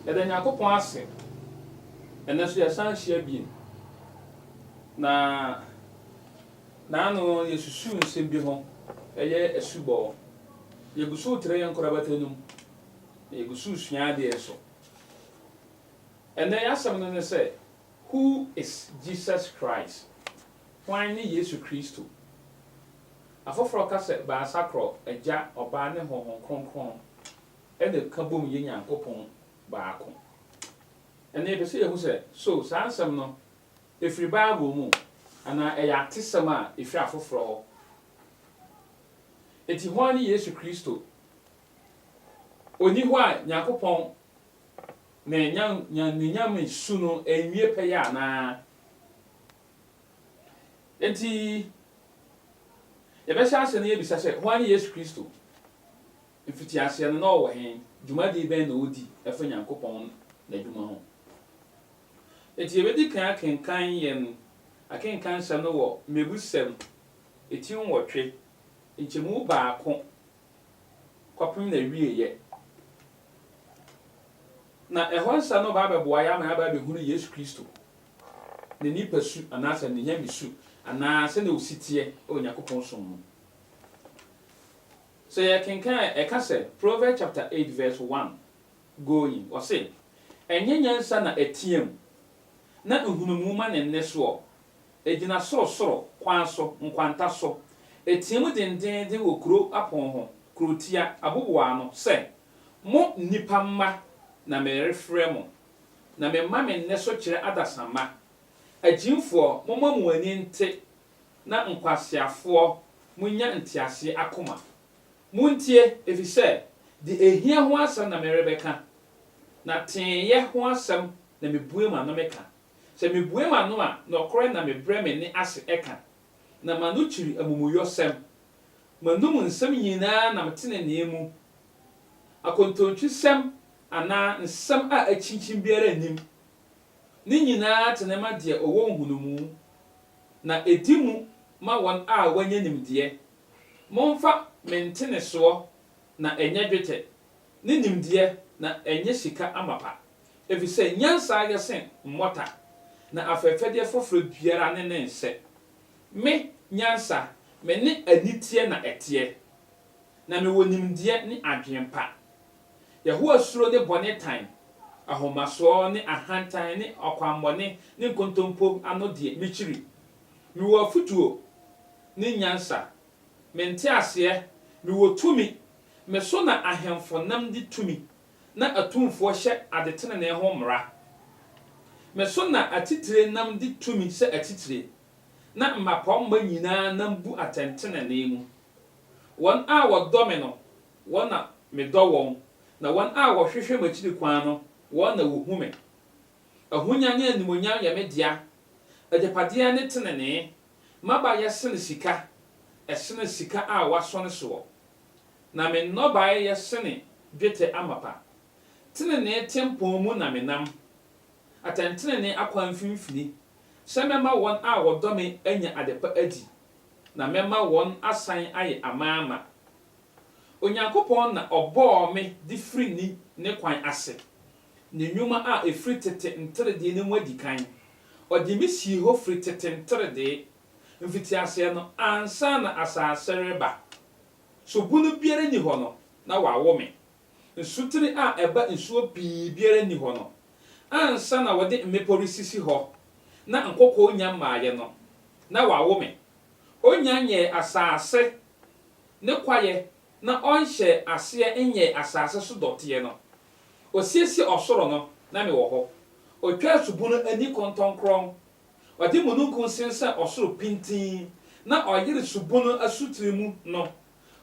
Yɛda Nyankopɔn ase, ɛnnɛ so yɛsan ahyia bio, na naano yɛsusu nsɛm bi ho, ɛyɛ asubɔ. Yɛgu so retrɛ yɛn nkorabata no mu, na yɛgu so resua adeɛ nso. Ɛnnɛ y'asɛm no ne sɛ, Who is Jesus Christ? Hwan ne Yesu Kristo? Afoforɔ ka sɛ Baasakoro, Agya, Ɔba ne Honhom Kronkron. de ka bom yɛ Nyankopɔn baako. Ɛnnɛ yɛpɛ sɛ yehu sɛ, so saa nsɛm no firi Bible mu anaa ɛyɛ atesɛm a efi afoforo hɔ. Enti hwan ne Yesu Kristo? Onni hɔ a Nyankopɔn ne n'anuonyam ne su no nwie pɛyɛ anaa? Enti yɛbɛhyɛ ase na yɛabisa sɛ, hwan ne Yesu Kristo? Mfitiaseɛ no, na ɔwɔ he? Dwumadie bɛn na ɔdi fa Nyankopɔn N'adwuma ho? Enti yɛbɛdi kan akenkan yɛn akenkan nsɛm no wɔ Mmebusɛm ti nwɔtwe, nkyɛmu baako kɔpem n'awieɛ. Na ɛhɔ nsɛm no bɛba abɛboa yɛ ama yɛaba abɛhunu Yesu Kristo, Ne nipasu anaasɛ Ne nyamesu, anaa sɛdeɛ ɔsi teɛ wɔ Nyankopɔn som mu. Sɛ yɛkenkan a, ɛka sɛ, Proverbs chapter eight verse one going, ɔse, Ɛnyɛ nyansa na ɛteam, na nhunumu ma ne nne soɔ, ɛgyina sorosoro kwan so, nkwanta so, ɛteam dendeenden wɔ kuro apon ho, kurotia, aboboa ano, sɛ, Mo nnipa mma na merefrɛ mo, na mema me nne so kyerɛ adasamma, agyimfoɔ, momma mo ani nte na nkwaseafoɔ monnya nteaseɛ akoma. Montie, ɛfiri sɛ deɛ ɛhia ho asɛm na merebɛka, na teeyɛ ho asɛm na mebue m'ano meka. Sɛ mebue m'ano a, nɔkorɛ na mebrɛ me nne ase ka, na m'ano kyiri amumuyɔsɛm. M'anom nsɛm nyina ara nam tenenee mu, akontontwisɛm anaa nsɛm a akyinkyin biara nnim. Ne nyina ara tene ma deɛ ɔwɔ nhunumu. na ɛdi mu ma wɔn a wɔanya nimdeɛ. Momfa me ntenesoɔ na ɛnyɛ dwetɛ, ne nimdeɛ na ɛnyɛ sika amapa, ɛfiri sɛ nyansa yɛ sen mmɔta, na afɛfɛdeɛ foforɔ biara ne ne nsɛ. Me, nyansa, me ne aniteɛ na ɛteɛ, na mewɔ nimdeɛ ne adwene pa. Yehowa suro ne bɔne tan, ahomasoɔ ne ahantan ne ɔkwammɔne ne nkontompo ano deɛ, mekyiri. Mewɔ afotuo ne nyansa, me nteaseɛ, mewɔ tumi, me so na ahemfo nam di tumi na atumfoɔ hyɛ adetenenee ho mmara. Me so na atitire nam di tumi sɛ atitire, na mmapɔmma nyinaa nam bu atɛntenenee mu. Wɔn a wɔdɔ me no Wɔn na medɔ wɔn, na wɔn a wɔhwehwɛ m'akyiri kwan no, wɔn na wɔhu me. Ahonya ne animuonyam yɛ me dea, agyapadeɛ ne tenenee. M'aba yɛ sene sika, ɛsene sika a wɔasɔ ne soɔ, na me nnɔbaeɛ yɛ sene dwetɛ amapa. Tenenee tempɔn mu na menam, atɛntenenee akwan mfimfini, sɛ mɛma wɔn a wɔdɔ me anya adepa adi, na mɛma wɔn asan ayɛ amaama. Onyankopɔn na ɔbɔɔ me de firi ni ne kwan ase, ne nnwuma a ɛfiri tete nteredee no mu adi kan. Ɔde me sii hɔ firi tete nteredee, mfitiaseɛ no, ansa na asase reba so bunu biara nni hɔ no, na wawo me. Nsutene a ɛba nsuo pii biara nni hɔ no, ansa na wɔde mmepɔ resisi hɔ na nkoko nnya mmaeɛ no, na wawo me. Ɔnnya nyɛɛ asase ne kwaeɛ na ɔnhyɛɛ aseɛ nyɛɛ asase so dɔteɛ no. Ɔsiesiee ɔsoro no, na mewɔ hɔ. Ɔtwaa subunu ani kɔntɔnkrɔn. Ɔde mununkum sensɛn ɔsoro pintinn na ɔyere subunu asutire mu no.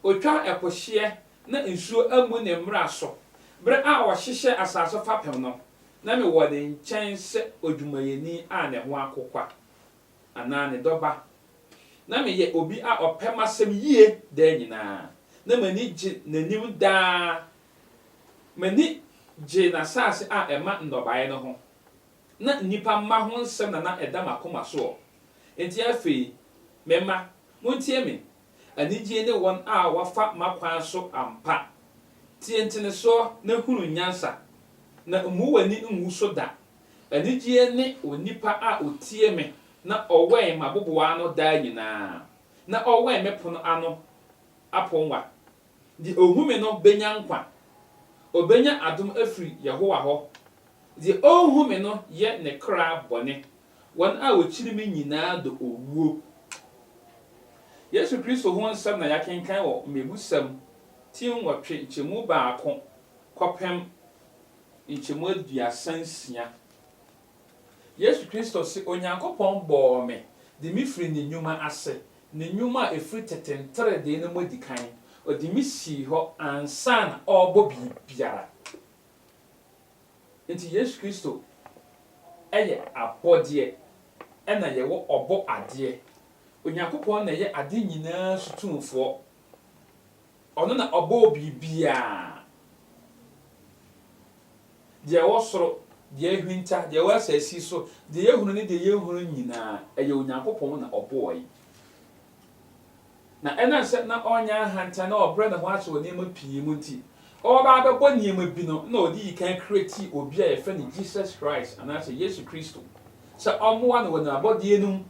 Ɔtwaa ɛpo hyeɛ na nsuo ammu ne mmara so. Berɛ a ɔhyehyɛɛ asase fapem no, na mewɔ ne nkyɛn sɛ odwumayɛni a ne ho akokwa. anaa ne dɔba. Ná meyɛ obi a ɔpɛ m'asɛm yie daa nyinaa. Ná m'ani gye n'anim daa. M'ani gyee n'asase a ɛma nnɔbaeɛ no ho. Ná nnipa mma ho nsɛm na na ɛda m'akoma soɔ. Enti afei, me mma, montie me, anigyeɛ ne wɔn a wɔafa m'akwan so ampa. Tie ntenesoɔ na hunu nyansa, na mmu w'ani ngu so da. Anigyeɛ ne onipa a ɔtie me na ɔwɛn m'aboboaa ano daa nyinaa, na ɔwɛn me pono ano aponnwa. Deɛ ɔhu me no bɛnya nkwa. Ɔbɛnya adom afiri Yehowa hɔ. Deɛ ɔnhu me no yɛ ne kra bɔne. Wɔn a wɔkyiri me nyinaa dɔ owuo. Yesu Kristo ho nsɛm na yɛakenkan wɔ Mmebusɛm ti nwɔtwe nkyɛmu baako kɔpem nkyɛmu aduasa nsia. Yesu Kristo se, Onyankopɔn bɔɔ me de me firi ne nwuma ase, ne nwuma a ɛfiri tete nteredee no mu adi kan. Ɔde me sii hɔ ansa na ɔrebɔ biribiara. Enti Yesu Kristo yɛ abɔdeɛ ɛna yɛwɔ ɔbɔ adeɛ. Onyankopɔn na ɛyɛ ade nyinaa so tumfoɔ. Ɔno na ɔbɔɔ biribiara, deɛ ɛwɔ soro, deɛ ahwinta, deɛ ɛwɔ asasi so, deɛ yɛhunu ne deɛ yɛnhunu nyinaa, ɛyɛ Onyankopɔn na ɔbɔɔe. Na ɛnam sɛ na ɔnyɛ ahantan na ɔbrɛ ne ho ase wɔ nneɛma pii mu nti, ɔreba abɛbɔ nneɛma bi no, na ɔde yi kan creatii obi a yɛfrɛ no Jesus Christ, anaasɛ Yesu Kristo, sɛ ɔmmoa no wɔ n'abɔdeɛ no mu,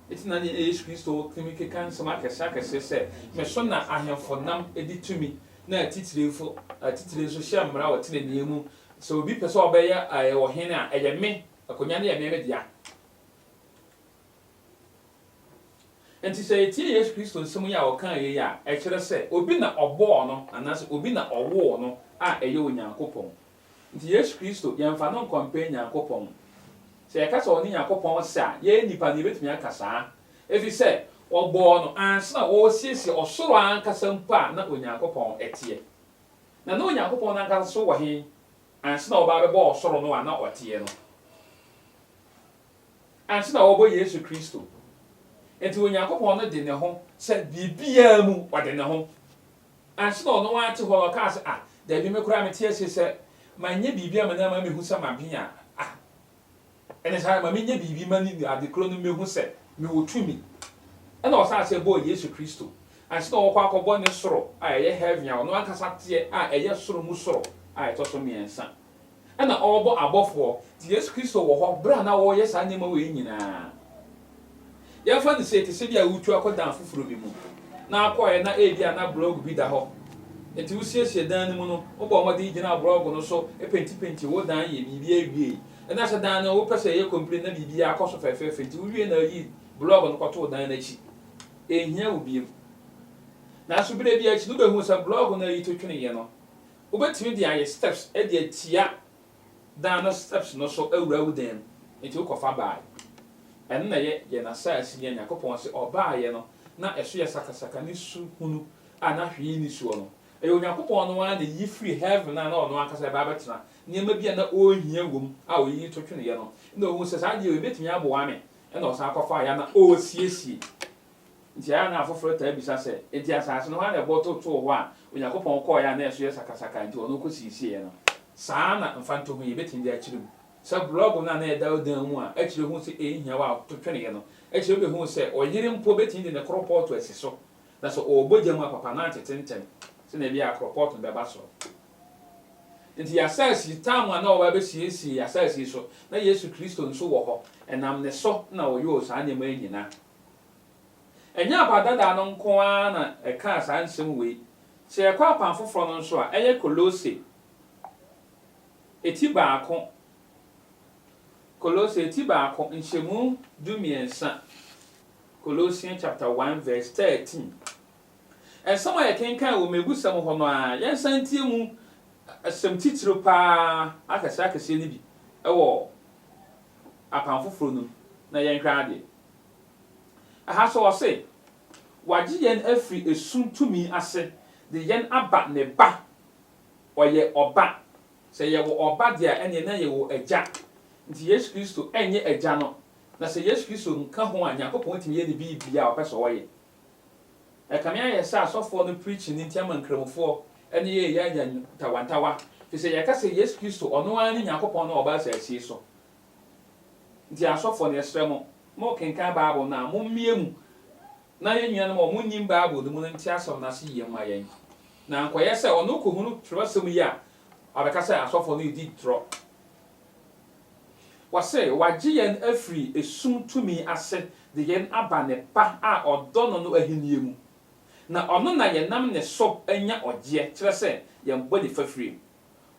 Enti na nea Yesu Kristo tumi keka nsɛm akɛse akɛse sɛ, Me so na ahemfo nam di tumi, na atitiriwfo atitiriw nso hyɛ mmara wɔ trenee mu. Sɛ obi pɛ sɛ ɔbɛyɛ ɔhene a, ɛyɛ me, akonnwa no yɛ me, me dea. Enti sɛ yetie Yesu Kristo nsɛm yi a ɔkae yi a, ɛkyerɛ sɛ obi na ɔbɔɔ no anaasɛ obi na ɔwoo no a ɛyɛ Onyankopɔn. Nti Yesu Kristo, yɛmfa no nkɔmpɛ Nyankopɔn. Sɛ yɛka sɛ ɔne Nyankopɔn ɔsɛ a, yɛyɛ nnipa no, yɛbɛtumi aka saa. Ɛfiri sɛ, wɔbɔɔ no ansa na wɔresiesie ɔsoro ankasa mpo a na Onyankopɔn teɛ. Na na Onyankopɔn no ankasa nso wɔ he ansa na wɔba abɛbɔ ɔsoro no a na ɔteɛ no? Ansa na wɔrebɔ Yesu Kristo. Nti Onyankopɔn no de ne ho sɛ biribiara mu ɔde ne ho. Anhye na ɔno ara te hɔ na ɔkaa sɛ, Ah, dabi, me koraa mete asie sɛ manyɛ biribi amma no amma mehu sɛ maben a, ah, ɛne saa ara, ma menyɛ biribi mma ne ade korɔ no mmɛhu sɛ mewɔ tumi. Ɛna ɔsan sɛ bɔɔ Yesu Kristo. Anhye na ɔkɔ akɔbɔ ne soro a ɛyɛ heaven a ɔno ankasa teɛ a ɛyɛ soro mu soro a ɛtɔ so mmiɛnsa. na ɔrebɔ abɔfoɔ, nti Yesu Kristo wɔ hɔ berɛ a na wɔreyɛ saa nneɛma wei nyinaa. Yɛmfa no sei, te sɛ bi a woretu akɔ dan foforɔ bi mu, na wokɔeɛ na ebia na blɔɔgo bi da hɔ, nti wosiesie dan no mu no, wobɔɔ mmɔden gyinaa blɔɔgo no so, pentipentii wo dan, yɛɛ biribiara wiei, na sɛ dan no wopɛ sɛ ɛyɛ kɔmplin na biribiara akɔ so fɛfɛɛfɛ, nti wowiee na woyii blɔɔgo no kɔtoo dan no akyi. Ɛnhia wo bio. Nanso berɛ bi akyi no wobɛhuu sɛ blɔɔgo no a yitotweneeɛ no, Wobɛtumi de ayɛ steps de atia dan no steps no so awura wo dan mu, enti wokɔ fa baeɛ. Ɛno na ɛyɛ yɛn asaase yi a Nyankopɔn se ɔbaeɛ no na ɛso yɛ sakasaka ne su hunu a na hwee nni soɔ no. Ɛyɛ Onyankopɔn no ara na ɛyiyi firi heaven a na ɔno ankasa ɛba abɛtena nneɛma bi a na ɔrehia wɔ mu a ɔyiyi to tweneɛ no na ɔhuu sɛ saa adeɛ wei bɛtumi aboa me ɛna ɔsan kɔfaeɛ a na ɔresiesie. Nti ɛyɛ a na afoforo taa bisa sɛ, 'Enti asase no, hwan na ɛbɔ totoo hɔ a Onyankopɔn kɔe a na ɛso yɛ sakasaka nti ɔno kosiesiee no? Saa na mfatoho yi betumi de akyerɛ mu. Sɛ blɔg no a na ɛda wo dan mu a ɛkyerɛ hu sɛ eyi hia wo a to twene no kyerɛ wubehu sɛ ɔyere mpo betumi de ne koropɔɔto asi so, na sɛ ɔrebɔ gya mu a papa no antete ntɛm sɛnea ebia koropɔɔto no bɛba soro. Enti y'asase tam a na wɔba abesiesie y'asase so, na Yesu Kristo nso wɔ hɔ, ɛnam ne so na ɔyɔɔ saa nneɛma yi nyinaa. Ɛnyɛ abadadaa no nko ara na ɛkaa saa nsɛm wei. Sɛ yɛkɔ apam foforɔ no nso a, ɛyɛ Kolose, eti baako, Kolose, eti baako, nhyɛmu du mmiɛnsa, Colossians chapter one verse thirteen. Nsɛm a yɛkenkan wɔ mmeebusɛm hɔ no ara, yɛnsan ntie mu asɛm titiriw pa ara akɛseɛ akɛseɛ no bi wɔ Apam Foforo no mu na yɛnhwɛ ade. Ɛha nso ɔse, Wagye yɛn afiri esum tumi ase de yɛn aba ne Ba. Ɔyɛ Ɔba. Sɛ yɛwɔ Ɔba de a, ɛneɛ na yɛwɔ Agya. Nti Yesu Kristo nyɛ Agya no, na sɛ Yesu Kristo nka ho a, Nyankopɔn tumi yɛ ne biribiaa a ɔpɛ sɛ ɔyɛ. Ɛkame ayɛ sɛ asɔfoɔ no preaching no nti ama nkramofoɔ ne yɛn yɛ anya ntawantawa, firi sɛ yɛka sɛ Yesu Kristo ɔno ara ne Nyankopɔn no a ɔbaa asase yi so. Nti asɔfoɔ no yɛsrɛ mo, mo kenkan Bible no a, mo mmie mu na yɛn nuanom a wɔn nnim Bible no mu no nte asɛm no ase yie mma yɛn. Na ankɔyɛ sɛ ɔno kɔhunu twerɛsɛm yi a, wabɛka sɛ asɔfoɔ no redi torɔ. Wɔse, Wagye yɛn afiri esum tumi ase de yɛn aba Ne Ba a ɔdɔ no no ahennie mu, na ɔno na yɛnam ne so nya ɔgyeɛ, kyerɛ sɛ, yɛn bɔne fafirie.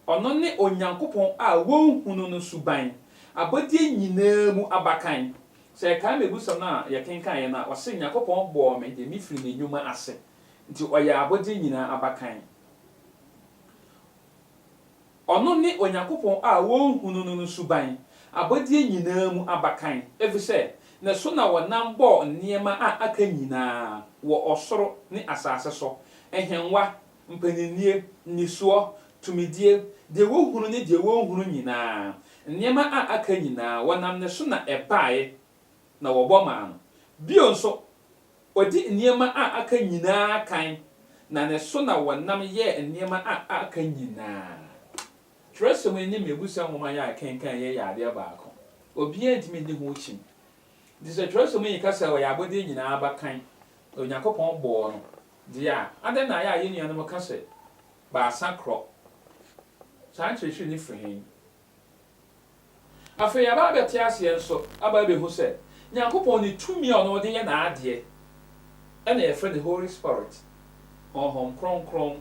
Ɔno ne Onyankopɔn a wɔnhunu no suban, abɔdeɛ nyinaa mu abakan. Sɛ yɛkae mmebusɛm no a yɛkenkaneɛ no a, ɔse, Nyankopɔn bɔɔ me de me firii ne nnwuma ase, nti ɔyɛ abɔdeɛ nyinaa abakan. Ɔno ne Onyankopɔn a wɔnhunu no no suban, abɔdeɛ nyinaa mu abakan, efisɛ ne so na wɔnam bɔɔ nneɛma a aka nyinaa wɔ ɔsoro ne asase so, nhengua, mpaninnie, nnisoɔ, tumidie, deɛ wɔhunu ne deɛ wɔnhunu nyinaa, nneɛma a aka nyinaa, wɔnam ne so na ɛbaeɛ, na wɔbɔ maa no. Bio nso, odi nneɛma a aka nyinaa kan, na ne so na wɔnam yɛɛ nneɛma a aka nyinaa. Twerɛsɛm yi ne Mmebusɛm nwoma yi a yɛkenkan yi yɛ adeɛ baako. Obiara ntumi nni ho kyim. Enti sɛ twerɛsɛm yi ka sɛ ɔyɛ abɔdeɛ nyinaa abakan, na Onyankopɔn bɔɔ no deɛ a, adɛn na ɛyɛ a yɛn nuanom ka sɛ baasa korɔ? Saa nkyerɛkyerɛ no firi he? Afei yɛaba abɛte aseɛ nso, aba abɛhu sɛ, Nyankopɔn ne tumi a ɔno ɔde yɛ n'adeɛ, ɛna yɛfrɛ no Holy Spirit, Honhom Kronkron.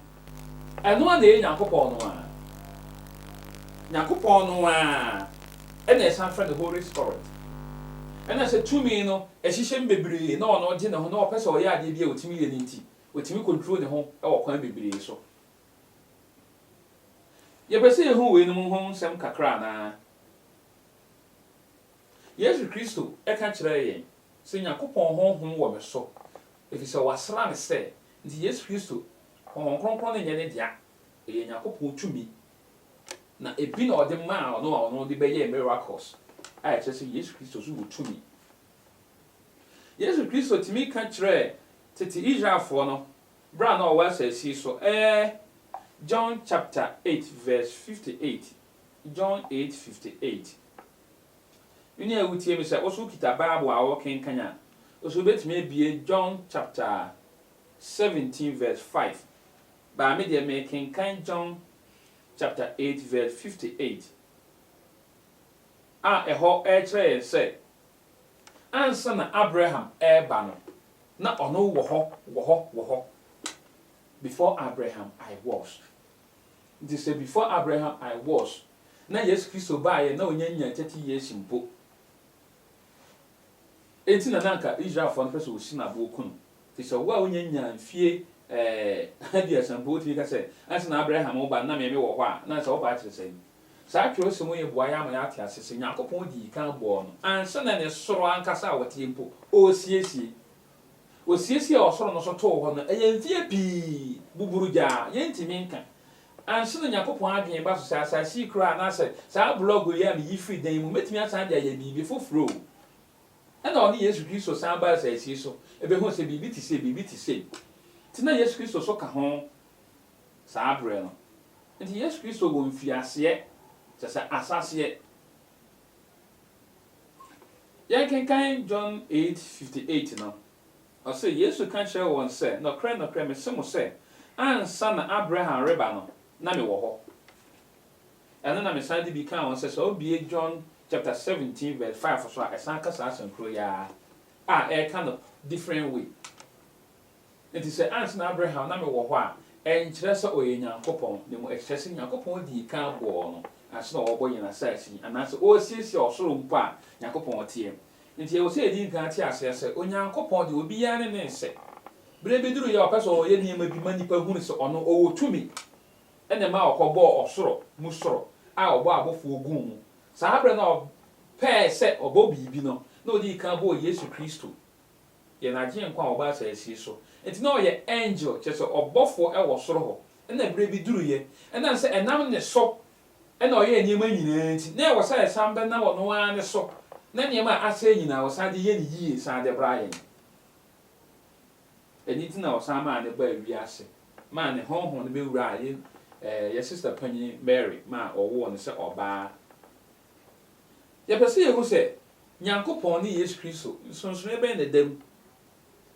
Ɛno ara na ɛyɛ Nyankopɔn no ara. Nyankopɔn no ara ɛna yɛsan frɛ no Holy Spirit. Ɛna sɛ tumi no ɛhyehyɛ mu bebree na ɔno ɔgye ne ho na ɔpɛ sɛ ɔyɛ adeɛ bi a ɔtumi yɛ no nti, ɔtumi control ne ho wɔ kwan bebree so. Yɛpɛ sɛ yehu weinom ho nsɛm kakra anaa? Yesu Kristo ka kyerɛɛ yɛn sɛ, Nyankopɔn honhom wɔ me so, efisɛ wɔasra no sɛ. Enti Yesu Kristo honhom kronkron no nyɛ ne dea, ɛyɛ Nyankopɔn tumi, na ebi na ɔde maa ɔno a ɔno de bɛyɛɛ miracles, a ɛkyerɛ sɛ Yesu Kristo nso wɔ tumi. Yesu Kristo tumi ka kyerɛɛ tete Israelfoɔ no Bere a na ɔwɔ asase yi so ɛ John chapter eight verse fifty eight John eight fifty eight Me nua a wutie me sɛ wo so wokita Bible a worekenkan a, wo so wubetumi abue John chapter seventeen verse five Baa me deɛ merekenkan John chapter eight verse fifty eight a ɛhɔ rekyerɛ yɛn sɛ Ansa na Abraham reba no, na ɔno wɔ hɔ, wɔ hɔ, wɔ hɔ. Before Abraham, I was. Nti sɛ before Abraham, I was na Yesu Kristo baeɛ na ɔnya nyaa thirty years mpo, enti na na anka Israelfoɔ no pɛ sɛ wɔsi no aboɔ ku no, Te sɛ wo a wunnya nyaa mfie aduasa mpo, wutumi ka sɛ, Ansa na Abraham reba no, na me mewɔ hɔ a, na ansa woba akyerɛ sɛn? Saa kyerɛwsɛm yi boa yɛn ma yɛate ase sɛ Nyankopɔn dii kan bɔɔ no ansa na ne soro ankasa a wɔte mpo ɔresiesie. Osiesiee ɔsoro no so too hɔ no, ɛyɛ mfie pii, buburugyaa, yɛrentumi nka. Ansa na Nyankopɔn adwene ba so sɛ asase yi koraa anaasɛ saa blɔg yi a miyi firi dan mu, metumi asan de ayɛ biribi foforo o, Ɛnna ɔne Yesu Kristo san baa asaasie so behuu sɛ biribi te sei, biribi te sei te na Yesu Kristo so ka ho saa bere no. Enti Yesu Kristo wɔ mfiaseɛ, kyerɛ sɛ asaseɛ. Yɛnkenkan John eight fifty eight no, ɔse, Yesu ka kyerɛɛ wɔn sɛ, Nɔkorɛ, nɔkorɛ, mese mo sɛ, ansa na Abraham reba no, na mewɔ hɔ. Ɛno na mesan de bi kaa wɔn sɛ, sɛ wobue John chapter seventeen verse five so a, ɛsan ka saa asɛm koro yi ara, a ɛreka no different way. Enti sɛ ansa na Abraham na mewɔ hɔ a, ɛnkyerɛ sɛ ɔyɛ Nyankopɔn, na mmom ɛkyerɛ sɛ Nyankopɔn dii kan bɔɔ no ansa na ɔrebɔ yɛn asase yi, anaasɛ ɔresiesie ɔsoro mpo a, Nyankopɔn teɛ. Enti ɛwɔ sɛ yɛdi kan te aseɛ sɛ, Onyankopɔn deɛ, obiara ne ne nsɛ. Berɛ bi duruiɛ a, ɔpɛ sɛ ɔyɛ nneɛma bi ma nnipa hunu sɛ ɔno ɔwɔ tumi. Ɛna ɛmaa ɔkɔbɔɔ ɔsoro mu soro a ɔbɔɔ abɔfoɔ guu mu. Saa berɛ no a ɔpɛɛ sɛ ɔbɔ biribi no, na ɔdii kan bɔɔ Yesu Kristo, yɛn Agyenkwa a ɔbaa asasie so. Enti na ɔyɛ angel, kyerɛ sɛ, ɔbɔfoɔ wɔ soro hɔ. Ɛna berɛ bi duruiɛ, ɛnam sɛ ɛnam ne so na ɔyɛɛ nneɛma nyinaa nti, na ɛwɔ sɛ ɛsan bɛnam ɔno ara ne so na nneɛma a asɛe nyinaa ɔsan de yɛ no yie san de bra yɛn. Ɛno nti na ɔsan maa no baa wiase, maa ne honhom no bɛwuraa yɛn ɛɛ yɛn sista panyin Mary ma ɔwoo no sɛ ɔbaa. Yɛpɛ sɛ yɛhu sɛ Nyankopɔn ne Yesu Kristo, nsonsonoeɛ bɛn na ɛda mu?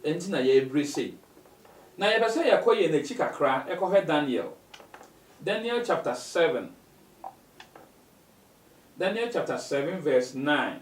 Ɛno nti na yɛrebrɛ sei. Na yɛpɛ sɛ yɛkɔ yɛn akyi kakra kɔhwɛ Daniel. Daniel chapter seven. Daniel chapter seven verse nine.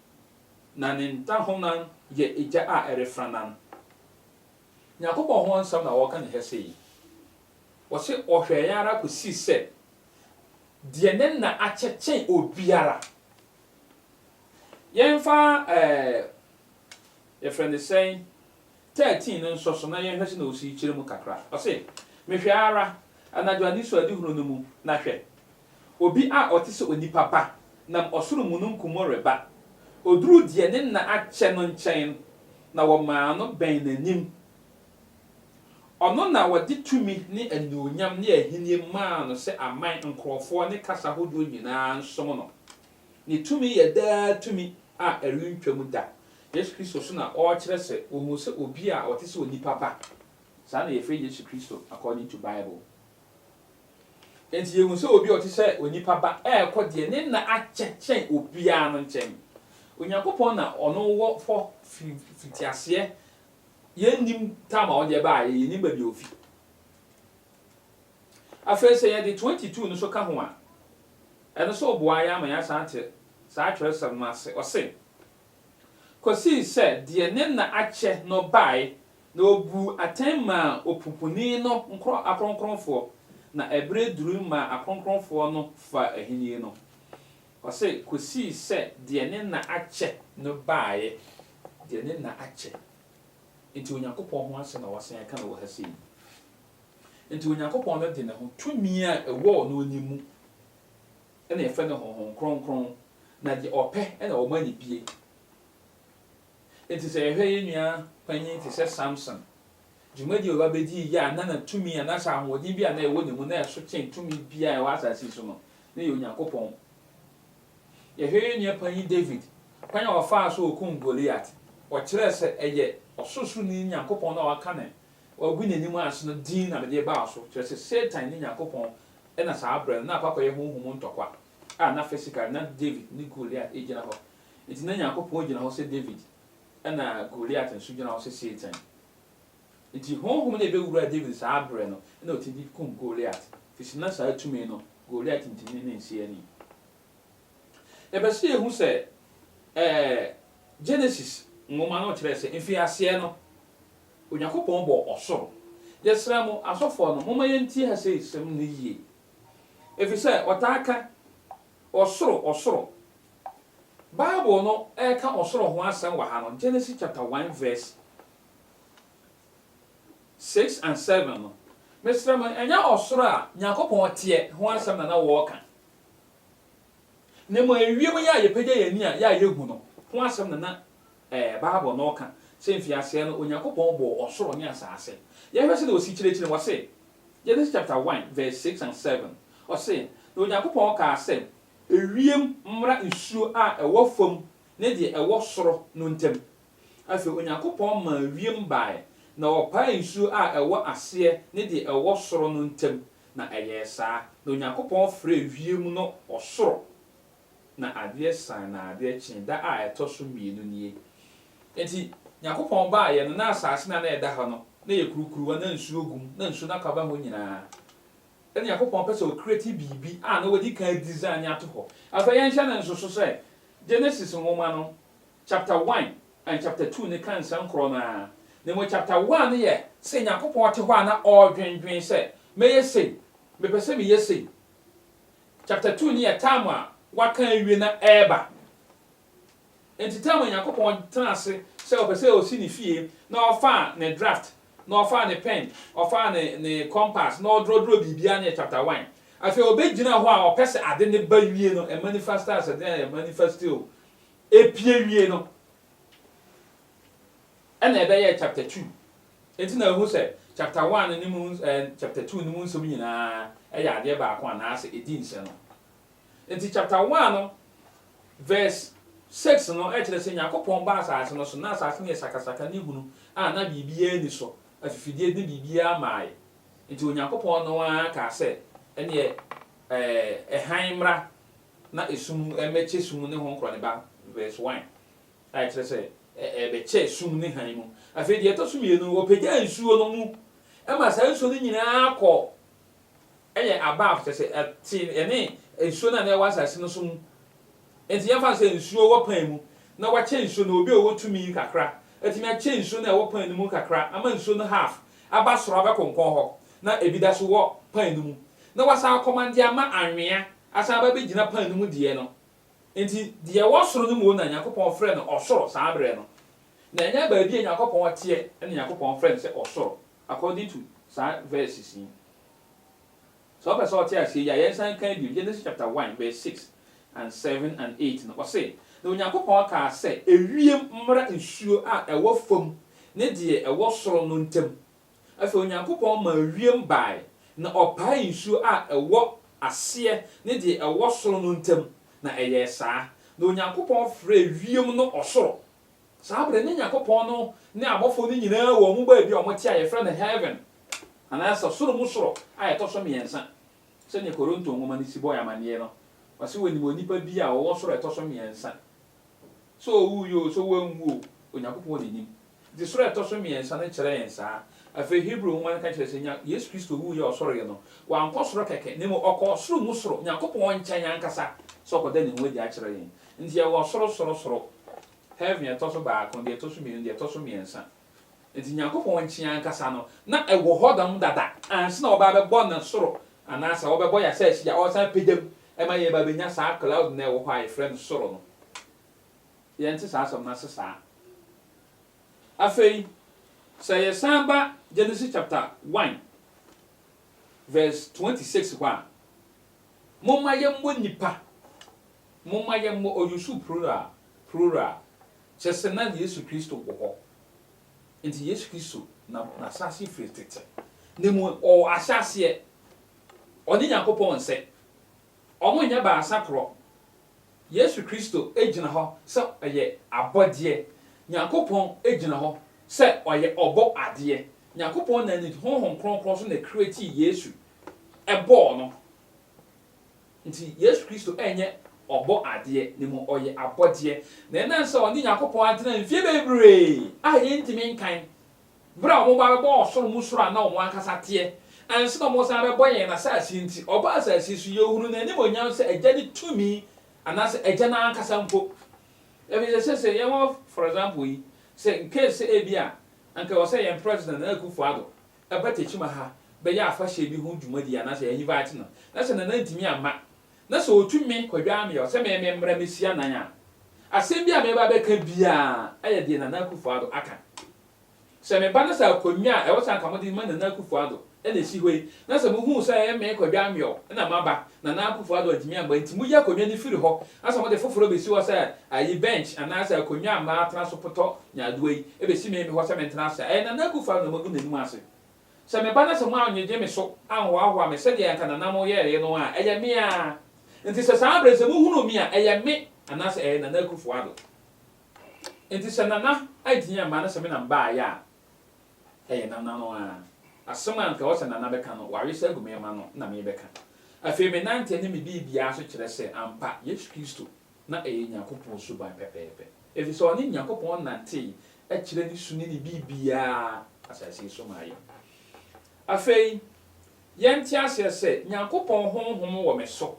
na ne ntahonan yɛ egya a ɛrefrannan. Nyankopɔn ho nsɛm na wɔka no hɛ sɛ yi. Wɔse ɔhwɛɛ ara kɔsii sɛ deɛ ne nna akyɛ kyɛn obiara. Yɛmfa ɛɛ yɛfrɛ no sɛn 13 no nsɔ so na yɛnhwɛ sɛnea ɔsii kyerɛ mu kakra. Ɔse, Mehwɛɛ ara, anadwo anisoadehunu no mu, na hwɛ! Obi a ɔte sɛ onipa ba nam ɔsoro mununkum mu reba. Oduruu deɛ ne nna akyɛ no nkyɛn no, na wɔmaa no bɛn n'anim. Ɔno na wɔde tumi ne anuonyam ne ahennie maa no sɛ aman, nkurɔfoɔ ne kasa hodoɔ nyinaa nsom no. Ne tumi yɛ daa tumi a ɛrentwam da. Yesu Kristo nso na ɔrekyerɛ sɛ wɔhuu sɛ obi a ɔte sɛ onipa ba. Saa na yɛfrɛ Yesu Kristo according to Bible. Enti yehu sɛ obi a ɔte sɛ onipa Ba rekɔ deɛ ne nna akyɛ kyɛn obiara no nkyɛn. Onyankopɔn na ɔno wɔ hɔ firi mfitiaseɛ. Yɛnnim tam a ɔde baeɛ, yɛnnim baabi a ɔfi. Afei sɛ yɛde 22 no nso ka ho a, ɛno nso boa yɛn ama yɛasan ate saa twerɛsɛm no ase. Ɔse, Kɔsii sɛ deɛ ne nna akyɛ no baeɛ Na obuu atɛn maa opumpuni no nkurɔf akronkronfoɔ, na ɛberɛ durui maa akronkronfoɔ no faa ahennie no, ɔse, kɔsii sɛ deɛ ne nna akyɛ no baeɛ, deɛ ne nna akyɛ. Enti Onyankopɔn ho asɛm na wɔasan aka no wɔ ha sei. Enti Onyankopɔn no de ne ho, tumi a ɛwɔ ɔno anim mu, ɛna yɛfrɛ no Honhom Kronkron, na deɛ ɔpɛ na ɔma no bie. Enti sɛ yɛhwɛ yɛn nua panyin te sɛ Samson, dwumadi a ɔba bedii yɛ a na na tumi anaasɛ ahoɔden bi a na ɛwɔ ne mu na ɛso kyɛn tumi biara a ɛwɔ asase yi so no, na ɛyɛ Onyankopɔn. Yɛhwɛ yɛn nua panyin David, kwan a ɔfaa so a okum Goliat, ɔkyerɛɛ sɛ ɛyɛ Ɔsorosoroni Nyankopɔn no a waka ne wagu n'anim ase no din na mede reba wo so, kyerɛ sɛ Satan ne Nyankopɔn na saa bere no na akɔ akɔyɛ honhom ntɔkwa a na physically na David ne Goliat gyina hɔ Enti na Nyankopɔn gyina hɔ sɛ David na Goliat nso gyina hɔ sɛ Satan. Enti honhom no a ebewuraa David saa bere no na otumi de kum Goliat, efisɛ na saa tumi no, Goliat ntumi ne no nsi ani. Yɛpɛ sɛ yehu sɛ ɛɛ Genesis nwoma no kyerɛɛ sɛ mfiaseɛ no, Onyankopɔn bɔɔ ɔsoro. Yɛsrɛ mo, asɔfoɔ no, momma yɛntie ha seisɛm no yie, efisɛ wɔtaa ka Ɔsoro, ɔsoro. Bible no reka ɔsoro ho asɛm wɔ ha no, Genesis chapter one verse six and seven no, mesrɛ mo, ɛnyɛ ɔsoro a Nyankopɔn teɛ ho asɛm na na wɔreka, na mmom ewiem yi a yɛpagya yɛn ani a yɛ a yɛhu no ho asɛm na na Ɛɛ, Bible no ka sɛ mfiaseɛ no Onyankopɔn bɔɔ ɔsoro ne asase. Yɛhwɛ sɛdeɛ ɔsi kyerɛkyerɛ mu, ɔse, Genesis chapter one verse six and seven, ɔse, Na Onyankopɔn kaa sɛ, Ewiem mmra nsuo a ɛwɔ fam ne deɛ ɛwɔ soro no ntam. Afei Onyankopɔn maa wiem baeɛ, na ɔpaee nsuo a ɛwɔ aseɛ ne deɛ ɛwɔ soro no ntam, na ɛyɛɛ saa. Na Onyankopɔn frɛɛ wiem no ɔsoro. na adeɛ san na adeɛ kye da a ɛtɔ so mmienu nie. Enti Nyankopɔn baeɛ no na asaase no a na ɛda hɔ no na ɛyɛ kurukuruwa na nsuo gu mu na nsuo no akɔ aba hɔ nyinaa. Ɛna Nyankopɔn pɛ sɛ ɔkreti biribi a na wadi kan adizane ato hɔ. Afei yɛnhyɛ no nsoso sɛ Genesis nwoma no chapter one and chapter two no ka nsɛm korɔ no ara. Na mmom chapter one no yɛ sɛ Nyankopɔn te hɔ a na ɔredwendwen sɛ, Mɛyɛ sei, mepɛ sɛ meyɛ sei. Chapter two no yɛ time a waka awie na ɛreba. Enti time a Nyankopɔn tena ase sɛ ɔpɛ sɛ ɔsi ne fie na ɔfaa ne draft na ɔfaa ne pen, ɔfaa ne ne compass na ɔdrɔdrɔ biribiara no yɛ chapter one. Afei ɔbɛgyina hɔ a ɔpɛ sɛ ade no ba wie no ɛmanifasta sɛdeɛ ɛmanifasti o, ɛpie wie no. Ɛna ɛbɛyɛɛ chapter two. Enti na ehu sɛ chapter one no mu eh, chapter two no mu nsɛm nyinaa ɛyɛ adeɛ baako anaasɛ edi nsɛno. Enti chapter one no verse six no ɛkyerɛ sɛ Nyankopɔn baa asase no so na asase no yɛ sakasaka ne hunu a na biribiara nni so, afifideɛ ne biribiara maae. Enti Onyankopɔn no ara kaa sɛ ɛneɛ eh, hann mmra na esum mmɛkyɛ sum ne ho nkorɔneba verse one. a ɛkyerɛ sɛ ɛbɛkyɛe sum ne hann mu. Afei deɛ ɛtɔ so mmienu no, wɔpagyaa nsuo no mu maa saa nsuo no nyinaa kɔ yɛ above, kyerɛ sɛ, ɛtee ɛne nsuo no a na ɛwɔ asase no so mu. Enti yɛmfa no sɛ nsuo wɔ pan mu na wɔakyɛ nsuo no, obi a ɔwɔ tumi yi kakra atumi akyɛ nsuo no a ɛwɔ pan no mu kakra ama nsuo no half aba soro abɛkonkɔn hɔ na ebi da so wɔ pan no mu na wasan akɔman de ama anwea asan aba abɛgyina pan no mu deɛ no. Enti deɛ ɛwɔ soro no mmom na Nyankopɔn frɛ no ɔsoro saa berɛ no, na ɛnyɛ baabi a Nyankopɔn teɛ na Nyankopɔn frɛ no sɛ ɔsoro according to saa verses yi. Sɛ wopɛ sɛ wote aseɛ yi a, yɛnsan nkan bio, Genesis chapter one verse six and seven and eight no, ɔse, Na Onyankopɔn kaa sɛ, Ewiem mmra nsuo a ɛwɔ fam ne deɛ ɛwɔ soro no ntam, Afei Onyankopɔn maa wiem bae, na ɔpaee nsuo a ɛwɔ aseɛ ne deɛ ɛwɔ soro no ntam, na ɛyɛɛ saa. Na Onyankopɔn frɛɛ wiem no ɔsoro. Saa berɛ no Nyankopɔn no ne abɔfoɔ no nyinaa wɔ wɔn baabi a wɔte a yɛfrɛ no heaven, anaa soro mu soro a ɛtɔ so mmiɛnsa. Sɛdeɛ Koronto nwoma no si bɔ yɛn amanneɛ no, wɔse wɔnim onipa bi a ɔwɔ soro a ɛtɔ so mmiɛnsa. Sɛ ɔwuiɛ oo, sɛ wanwu oo, Onyankopɔn na nim. De soro a ɛtɔ so mmiɛnsa no kyerɛ yɛn saa. Afei Hebri nwoma no ka kyerɛ sɛ nya Yesu Kristo wuiɛ a ɔsɔreeɛ no, wankɔ soro kɛkɛ, na mmom ɔkɔɔ ɔsoro mu soro, Nyankopɔn nkyɛn ankasa, sɛ ɔkɔda ne ho adi akyerɛ yɛn. Nti yɛwɔ ɔsoro soro soro, heaven a ɛtɔ so baako, deɛ ɛtɔ so mmienu, deɛ ɛtɔ so mmiɛnsa. Nti Nyankopɔn nkyen ankasa no, na ɛwɔ hɔ dam dada ansa na wɔba abɛbɔ no soro, anaa sɛ wɔbɛbɔ yɛn asase yi a ɔresan apagya mu ma yɛba abɛnya saa cloud no a ɛwɔ hɔ a yɛfrɛ no soro no. yɛnte saa asɛm no ase saa. Afei, sɛ yɛsan ba Genesis chapter one verse twenty six hɔ a, Momma yɛmmɔ nnipa, momma yɛmmɔ, ɔyɛ su plural, plural, kyerɛ sɛ na Yesu Kristo wɔ hɔ. Nti Yesu Kristo na n'ahyɛaseɛ firi tete. Na mmom ɔwɔ ahyɛaseɛ, ɔne Nyankopɔn nsɛ. Wɔnyɛ baasa korɔ, Yesu Kristo gyina hɔ sɛ ɔyɛ abɔdeɛ. Nyankopɔn gyina hɔ sɛ ɔyɛ ɔbɔ adeɛ. Nyankopɔn na ne Honhom Kronkron nso na ɛcreatii Yesu, ɛbɔɔ no. Nti Yesu Kristo ɛnyɛ ɔbɔ adeɛ, na mmom ɔyɛ abɔdeɛ. Na ɛnam sɛ ɔne Nyankopɔn atena mfeɛ bebree a yɛntumi nkan Bere a wɔba bɛbɔɔ ɔsoro mu soro a na wɔn ankasa teɛ, ansa na wɔsan rebɛbɔ yɛn asase nti, ɔbaa asase so. Yɛhunuu n'animuonyam sɛ Agya no tumi, anaasɛ Agya no ankasa mpo. Efisɛ seesei yɛwɔ, for example yi, sɛ in case sɛ ebia anka ɛwɔ sɛ yɛn President Nana Akufo-Addo ba Techiman ha bɛyɛ afahyɛ bi ho dwumadi anaasɛ yɛ invite no, na sɛ Nana ntumi amma, na sɛ otu me kɔdwaa me hɔ sɛ me memmra mmehyia Nan a, asɛm bi a mɛba abɛka biara yɛ deɛ Nana Akufo-Addo aka. Sɛ meba na sɛ akonnwa a ɛwɔ sɛ anka mode ma Nana Akufo-Addo na esi hɔ yi, na sɛ muhu sɛ ɛyɛ me kɔdwaa me hɔ na maba, Nana Akufo-Addo antumi amma nti, moyi akonnwa no firi hɔ na sɛ mode foforɔ besi hɔ sɛ ayi bench anaa sɛ akonnwa a matena so potɔ Nyaadoa yi besi me hɔ sɛ mentena ase a, ɛyɛ Nana Akufo-Addo na magu n'anim ase. Sɛ meba na sɛ moannyegye me so anhoahoa me sɛdeɛ anka nananom yɛeɛ no a, ɛyɛ me ara. Enti sɛ saa berɛ no sɛ mohunuu me a, ɛyɛ me anaasɛ ɛyɛ Nana Akufo-Addo? Enti sɛ Nana antumi amma na sɛ me na mebaeɛ a, ɛyɛ Nana no ara. Asɛm a anka ɛwɔ sɛ Nana bɛka no, wawesa agu me mma no na merebɛka. Afei menanteɛ ne me biribiara so kyerɛ sɛ ampa Yesu Kristo Na ɛyɛ Nyankopɔn suban pɛpɛɛpɛ, efisɛ ɔne Nyankopɔn nantee kyerɛ ne su ne ne biribiara asase yi so maa yɛn. Afei, yɛnte aseɛ sɛ, Nyankopɔn Honhom wɔ me so,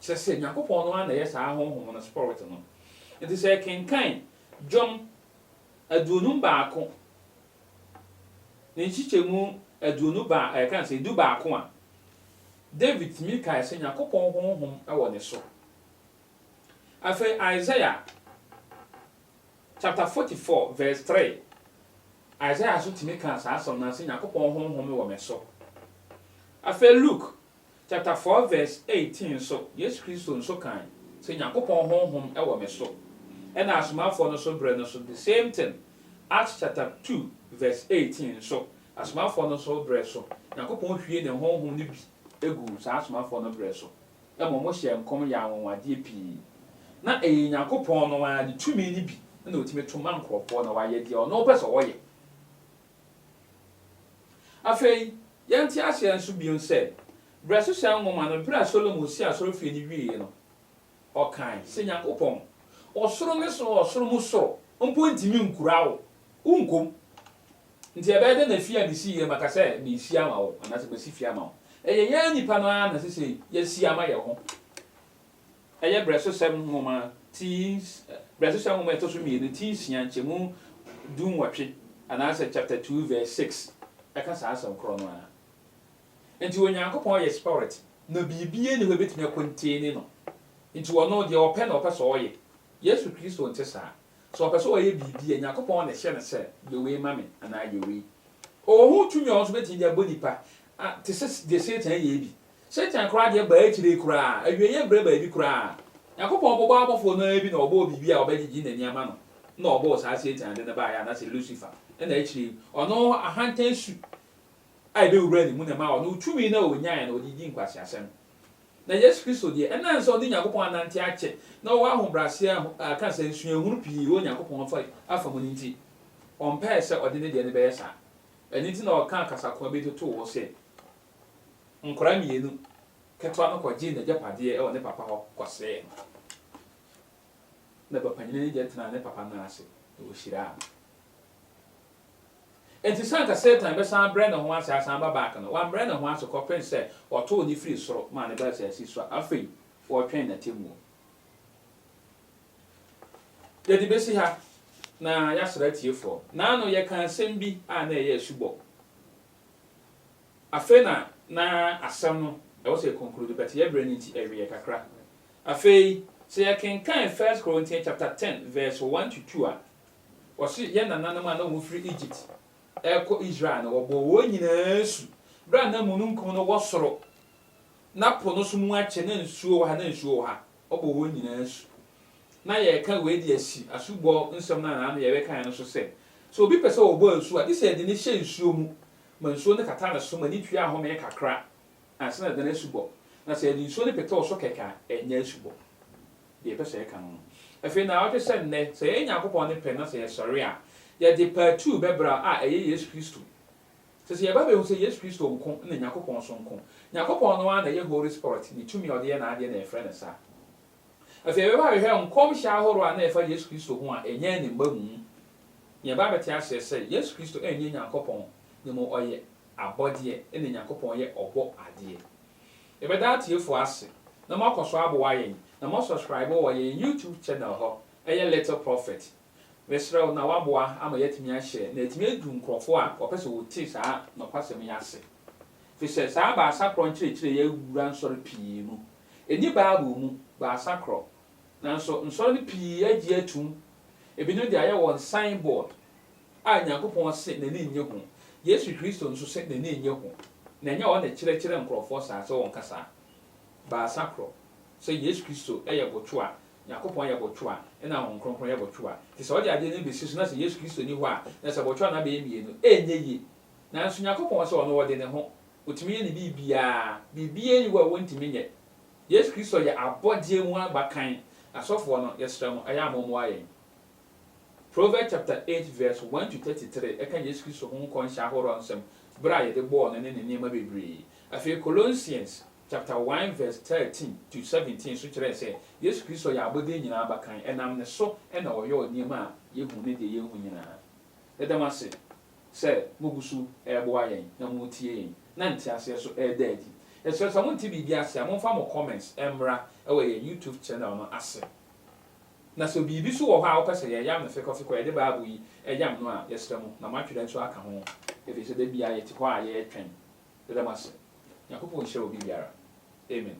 kyerɛ sɛ, Nyankopɔn no ara na ɛyɛ saa Honhom no, Spɔrot no. Enti sɛ yɛkenkan Dwom aduonum baako ne nkyekyɛmu aduonu ba, ɛɛ, ka sɛ du baako a, David tumi kae sɛ Nyankopɔn Honhom wɔ ne so, Afei Isaiah chapter 44 vs 3, Isaiah nso tumi kaa saa asɛm no ara sɛ Nyankopɔn Honhom wɔ me so. Afei Luke chapter 4 vs 18 nso, Yesu Kristo nso kae sɛ Nyankopɔn Honhom wɔ me so. Ɛna Asomafoɔ no nso berɛ no nso the same thing, Acts chapter 2 vs 18 nso, Asomafoɔ no nso berɛ so, Nyankopɔn hwie Ne Honhom no bi guu saa Asomafoɔ no berɛ so. Mmom wɔhyɛɛ nkɔm yɛɛ anwanwadeɛ pii. Na ɛyɛ Onyankopɔn no ara ne tumi no bi na ɔtumi to ma nkurɔfoɔ na wɔayɛ deɛ ɔno pɛ sɛ wɔyɛ. Afei, yɛnte aseɛ nso bio sɛ, Berɛ Hyehyɛ Nwoma no, berɛ a Solomon sii asɔrefie no wieeɛ no, ɔkae sɛ, Nyankopɔn, ɔsoro ne soro ɔsoro mu soro mpo ntumi nkura wo, wonkɔ mu. Nti ɛbɛyɛ dɛn na afi a misii yɛ maka sɛ meresi ama wo anaasɛ masi fi ama wo? Ɛyɛ yɛn nnipa no ara na ɛsɛ sɛ yɛsi ama yɛn ho. Ɛyɛ Brɛsosɛm Nwoma ti Brɛsosɛm Nwoma a ɛtɔ so mmienu ti nsia nkyɛmu du nwɔtwe anaasɛ chapter two verse six ɛka saa asɛm korɔ no ara. Nti Onyankopɔn yɛ Spirit na biribiara nni hɔ a ɛbɛtumi akɔnteni no. Nti ɔno deɛ ɔpɛ na ɔpɛ sɛ ɔyɛ. Yesu Kristo nte saa. Sɛ ɔpɛ sɛ ɔyɛ biribi a, Nyankopɔn na ɛhyɛ no sɛ, Yɛ wei ma me, anaa yɛ wei. Ɔwɔ ho tumi a ɔno nso betumi de abɔ nnipa, a te sɛ deɛ Satan yɛe bi. Satan koraa deɛ ɛbaa akyire koraa, awieeɛ berɛ baabi koraa. Nyankopɔn bobɔ abɔfoɔ no ara bi na ɔbɔɔ biribi a ɔbɛgyegye n'ani ama no, ɛna ɔbɔɔ saa Satan de no baeɛ, anaasɛ Lucifer, ɛna akyire yi, ɔno ahantan su a ɛbɛwuraa ne mu na ɛmaa ɔno tumi no a ɔnyaeɛ no, ɔde dii nkwaseasɛm. Na Yesu Kristo deɛ, ɛnam sɛ ɔne Nyankopɔn anante akyɛ na ɔwɔ ahobrɛaseɛ a ɛka sɛ nsuahunu pii wɔ Nyankopɔn afa yi afa mu no nti, ɔmpɛɛ sɛ ɔde ne deɛ no bɛyɛ saa. Ɛno nti na ɔkaa kasakoa bi totoo hɔ sɛ, Nkwadaa mmienu ketewa no kɔgyee n'agyapadeɛ wɔ ne papa hɔ kɔsɛee no, na ba panyin no gye tenaa ne papa nan ase, na ɔhyiraa no. Enti sɛ anka Satan bɛsan abrɛ ne ho ase asan aba back no, wambrɛ ne ho ase kɔpem sɛ wɔtoo no firii soro maa no baa asaase so a afei wɔretwɛn n'atemmuo. Yɛde bɛsi ha na yɛasra atiefoɔ. Naano yɛkaa asɛm bi a na ɛyɛ asubɔ. Afei na na asɛm no ɛwɔ sɛ yɛ conclude but yɛ berɛ no nti ɛweɛ kakra. Afei sɛ yɛkenkan First Corinthians chapter ten verse one to two a, Wɔse yɛn nananom a na wɔfiri Egypt rekɔ Israel no, wɔbɔɔ wɔn nyinaa asu berɛ a na mununkum no wɔ soro, na po no nso mu akyɛ, na nsuo wɔ ha, na nsuo wɔ ha. Wɔbɔɔ wɔn nyinaa asu. Na yɛreka wei de asi asubɔ nsɛm no a naano yɛbɛkaeɛ no so sɛ, sɛ obi pɛ sɛ ɔbɔ asu a, gye sɛ yɛde no hyɛ nsuo mu ma nsuo no kata ne so ma ani tua ahome kakra ansa na yɛde no asubɔ. Na sɛ yɛde nsuo no pete wo so kɛkɛ a, ɛnyɛ asubɔ. deɛ ɛpɛ sɛ yɛka no ho. Afei naawɔtwe sɛ nnɛ, sɛ yɛyɛ Nyankopɔn ne pɛ na sɛ yɛsɔre a, yɛde paatuu bɛbra a ɛyɛ Yesu Kristo. Sɛ sɛ yɛba bɛhu sɛ Yesu Kristo nko na Nyankopɔn so nko. Nyankopɔn no ara na ɛyɛ Holy Spɔrit ne tumi a ɔde yɛ n'adeɛ na yɛfrɛ no saa. Afei yɛbɛba abɛhwɛ nkɔmhyɛ ahorow a na ɛfa Yesu Kristo ho a ɛnyɛ ne mmamu mu. Na yɛba abɛte aseɛ sɛ Yesu Kristo ɛnyɛ Nyankopɔn, na mmom ɔyɛ abɔdeɛ ɛna Nyankopɔn yɛ ɔbɔ adeɛ. Yɛbɛda atiefo ase na moakɔ so aboa yɛn na moasɔskraibo wɔ yɛn YouTube channel hɔ, ɛyɛ Little Prophet. Mesrɛ wo na woaboa ama yɛatumi ahyɛ na atumi adu nkurɔfo a wɔpɛ sɛ wɔte saa nokwasɛm yi ase. Efisɛ saa Baasakoro nkyerɛkyerɛ yi awura nsɔre pii mu. Enni Bible mu, Baasakoro. Nanso nsɔre no pii agye atum. Ebinom de ayɛ wɔn sign board. a Nyankopɔn se n'ani nnye ho, Yesu Kristo nso se n'ani nnye ho, na ɛnyɛ ɔno na ɛkyerɛkyerɛ nkurɔfoɔ saa sɛ wɔnka saa. Baasakoro, sɛ Yesu Kristo yɛ botwo a, Nyankopɔn yɛ botwo a, ɛna Honhom Kronkron yɛ botwo a. Nti sɛ wɔde adeɛ no besi so na sɛ Yesu Kristo nni hɔ a, na sɛ botwo no abɛyɛ mmienu. Ɛrenyɛ yie. Nanso Nyankopɔn se ɔno ɔde ne ho, ɔtumi yɛ ne biribiara, biribiara nni hɔ a ɔntumi nyɛ. Yesu Kristo yɛ abɔdeɛ mu abakan. Asɔfoɔ no, yɛsrɛ mo, ɛyɛ a mommoa yɛn. Proverbs chapter eight verse one to thirty three ka Yesu Kristo ho nkɔnhyɛ ahorow nsɛm bere a yɛde bɔɔ no ne ne nneɛma bebree. Afei Colossians chapter one verse thirteen to seventeen nso kyerɛɛ sɛ Yesu Kristo yɛ abɔde nyinaa abakan, ɛnam ne so na ɔyɔɔ nneɛma a yehu ne deɛ yenhu nyinaa. Yɛda mo ase sɛ mogu so reboa yɛn na moretie yɛn na nteaseɛ nso reda adi. Yɛsrɛ sɛ monte biribi ase a momfa mo comments mmra wɔ yɛn YouTube channel no ase. Na sɛ biribi so wɔ hɔ a wopɛ sɛ yɛyam no fekɔfekɔ a, yɛde Bible yi yam no a, yɛsrɛ mo, na moatwerɛ nso aka ho, ɛfiri sɛ da biara yɛte hɔ a yɛretwɛn bɛbɛ mo ase. Nyankopɔn nhyira obi biara. Amen.